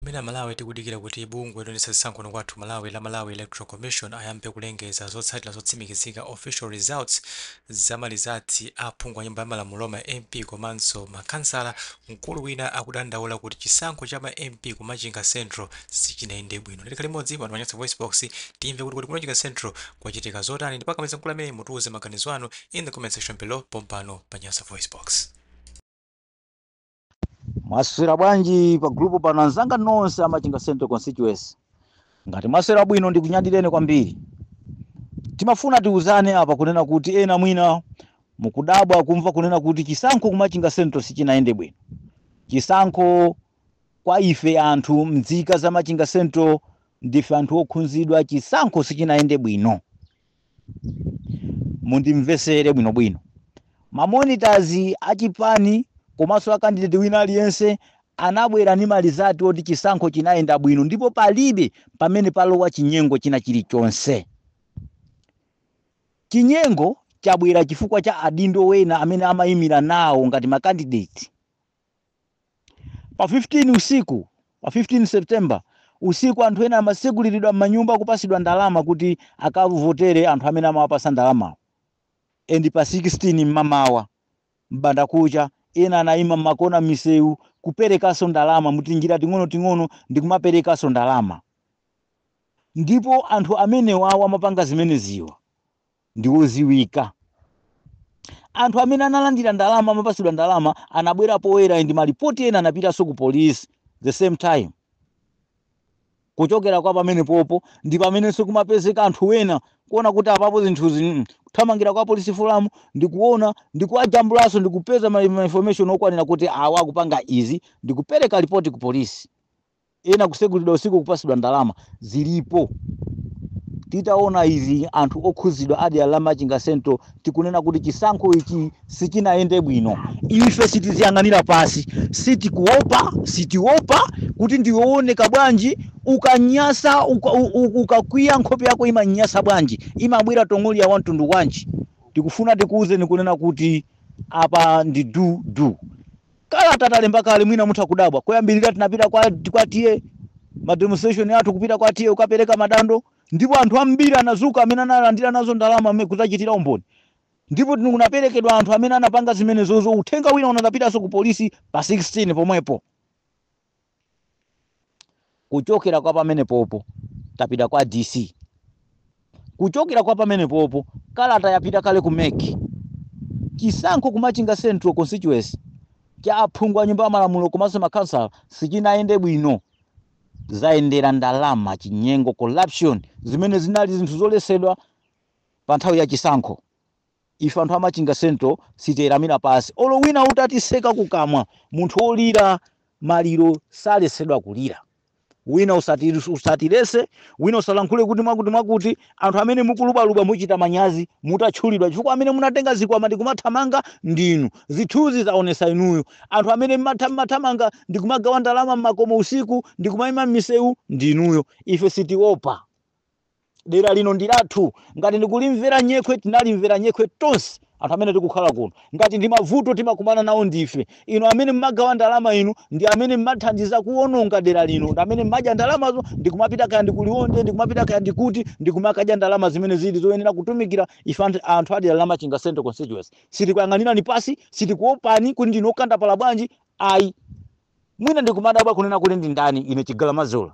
Mmene Amalawi tikudikira kuti bungwe loyendetsa zisankho kuno kwathu ku Malawi la Malawi Electoral Commission ayambe kulengeza zotsatira zotsimikizika, official results, za malizatsi a aphungu a Nyumba ya Malamulo, ma MP komanso ma Khansala, mkulu wina akudandaula kuti chisankho cha ma MP ku Machinga Central sichinayende bwino. Tikhale limodzi pano pa Nyasa VoiceBox timve kuti kodi ku Machinga Central kwachitika zotani ndipo akamaliza mkulu ameneyu mutiuze maganizo anu in the comment section below pompano pa Nyasa VoiceBox. mwaswera bwanji pa gulupu pano anzanga nonse a Machinga Central constituency ngati mwaswera bwino ndikunyadileni kwambiri timafuna tiuzane apa kunena kuti ena mwina mukudabwa kumva kunena kuti chisankho ku Machinga Central sichinayende bwino chisankho kwa ife anthu mdzika za machinga central ndife anthu okhunzidwa chisankho sichinayende bwino mundimvesere bwinobwino mamonitazi achipani komanso akandideti wina aliyense anabwera ndi malizatsi oti chisankho chinayenda bwino ndipo palibe pamene palowa chinyengo china chilichonse chinyengo chabwera chifukwa cha adindo wena amene amayimira nawo ngati makandideti Pa 15 usiku, pa 15 September usiku anthu ena amatseguliridwa mmanyumba kupatsidwa ndalama kuti akavotere anthu amene amawapasa ndalamawo and pa 16 mmamawa m'bandakucha ena anayima mmakona mmisewu kuperekanso ndalama mutinjira ting'onoting'ono ndikumaperekanso ndalama ndipo anthu amenewawa amapanga zimeneziwa ndi odziwika. Anthu amene analandira ndalama amapatsidwa ndalama anabwera poyera ndi malipoti ena anapitanso ku police the same time. Kuchokera kwa pamenepopo ndi pamenenso kumapezeka anthu ena kuona kuti apapo zinthuzi mm, kuthamangira kwa polisi folamu ndi kuona ndi kuwajambulanso ndi kupeza ma ma information okwanira kuti awa akupanga izi ndi kupereka lipoti ku polisi. ena kusegulidwa usiku kupasidwa ndalama zilipo titaona izi anthu okhuzidwa a dera la Machinga Central tikunena kuti chisankho ichi sichinayende bwino ife sitiziyang'anira pasi sitikuopa sitiopa kuti ndiwe ooneka bwanji ukanyasa uka- u- u- ukakwiya nkhope yako imanyasa bwanji imabwera tong'oliya wa mtundu wanji tikufuna tikuwuzeni kunena kuti apa ndi du du kalata talemba kale mwina mutha kudabwa koyambirira tinapita kwa, kwa TA ma demonstration athu kupita kwa TA kukapereka madando ndipo anthu ambiri anadzuka amene analandira nazo ndalama amene kudzachitira umboni ndipo kunaperekedwa anthu amene anapanga zimenezozo uthenga wina unapitanso ku polisi pa 16 pomwepo kuchokera kwa pamenepopo tapita kwa dc kuchokera kwa pamenepopo kalata yapita kale ku mec chisankho kumachinga central constituency cha aphungu a nyumba ya malamulo komanso makhansala sichinayende bwino zayendera ndalama chinyengo corruption zimene zinali zinthu zoletsedwa pa nthawi ya chisankho Ife anthu a Machinga central sitieramira pansi olo wina utatitseka kukamwa, munthu wolira maliro saletsedwa kulira. Wina usatiletse, wina usayankhule kuti mwakuti mwakuti, anthu amene mukulubaluba muchita manyazi mutatchulidwa chifukwa amene munatenga zikwama ndikumathamanga ndinu, zithunzi zaonesa inuyo, anthu amene mmatha mmathamanga ndikumagawa ndalama mmakomo usiku ndikumaima mmiseu ndinuyo. Ife sitiopa. dera lino ndi lathu ngati ndikulimvera nyekhwe tinalimvera nyekhwe tonse anthu amene tikukhala kuno ngati ndi mavuto timakumana nawo ndife inu amene mmagawa ndalama inu ndi amene mmathandiza kuwononga dera lino ndi amene mmadya ndalamazo ndikumapita kaya ndi ku Liwonde ndikumapita kaya ndikuti ndikumakadya ndalama zimene zili zoyenera kutumikira ife anthu- anthu a dera la machinga central constituency sitikuyang'anirani pansi sitikuopani kuti ndinu okandapala bwanji ayi mwina ndikumadabwa kunena kuti ndi ndani ine chigalamazula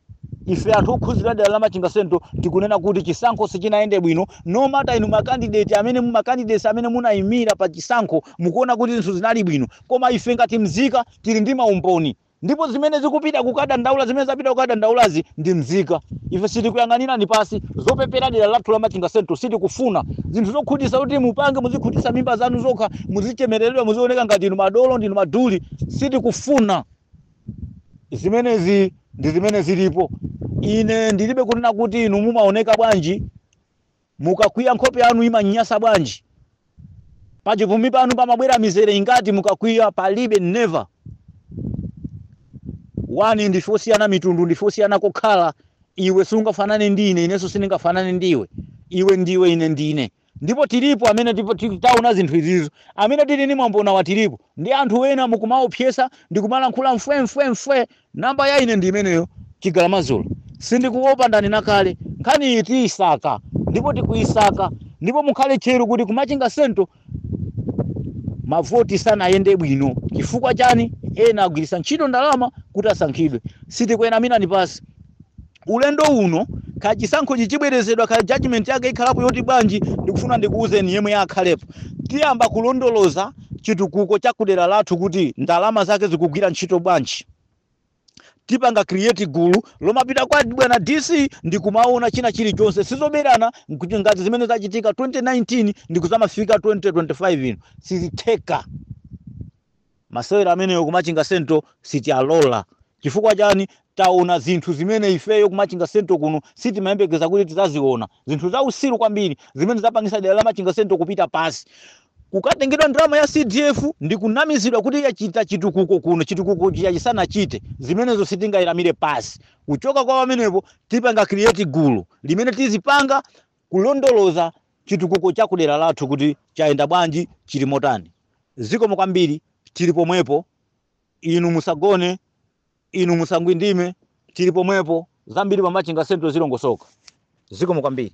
ife anthu okhuzidwa dera la machinga central tikunena kuti chisankho sichinayende bwino no matter inu makandideti amene mumakandidesi amene munayimira pa chisankho mukuona kuti zinthu zinali bwino koma ife ngati mzika tili ndi maumboni ndipo zimene zikupita kukadandaula zimene zapita kukadandaulazi ndi mzika ife sitikuyang'anirani pansi zopepera dera lathu la machinga central sitikufuna zinthu zokhutisa kuti mupange muzikhutisa mimba zanu zokha muzichemereredwa muzioneka ngati inu madolo ndinu maduli sitikufuna zimenezi ndi zimene zilipo ine ndilibe kunena kuti inu mumaoneka bwanji mukakwiya nkhope yanu imanyasa bwanji pachipumi panu pamabwera mizere ingati mukakwiya palibe never wani ndife osiyana mitundu ndife osiyana kokhala iwe sungafanane ndi ine inenso sindingafanane ndi iwe iwe ndiwe ine ndine Ndipo tilipo amene tiv, ti, taona zinthu izizo, amene tili ndi maumboniwa tilipo, ndiye anthu wena mukumaopseza ndikumalankhula mfwe mfwe mfwe, number ya ine ndi imeneyo chigalamazula, sindikuopa ndanena kale, nkhani iyi tiisaka ndipo tikuisaka ndipo mukhale tcheru kuti ku Machinga central mavoti sanayende bwino chifukwa chani ena agwiritsa ntchito ndalama kuti asankhidwe, sitikuyang'anirani pansi Ulendo uno, kaya chisankhochi chibwerezedwa kaya judgment yake ikhalapo yoti bwanji, ndikufuna ndikuuzeni yemwe akhalepo. Tiyamba kulondoloza chitukuko cha kudera lathu kuti ndalama zake zikugwira ntchito bwanji. Tipanga create gulu lomapita kwa bwana DC ndikumaona china chilichonse. Zoberana kuti ngati zimene zachitika 2019 ndikuzamafika 2025 ino. Sizitheka. Masewera amenewo ku Machinga Central sitialola chifukwa chani? Taona zinthu zimene ifeyo ku Machinga Central kuno sitimayembekeza kuti tizaziona. Zinthu zausiru kwambiri zimene zapangisa dera la Machinga Central kupita pasi. Kukatengedwa ndalama ya CDF ndi kunamizidwa kuti yachita chitukuko kuno chitukuko chija chisanachite. Zimenezo sitingailamire pasi. Kuchoka kwa pamenepo tipanga create gulu limene tizipanga kulondoloza chitukuko cha kudera lathu kuti chayenda bwanji, chili motani. Zikomo kwambiri, tili pomwepo, inu musagone, inu musangwindime, tili pomwepo, zambiri pa Machinga Central zilongosoka. Zikomo kwambiri.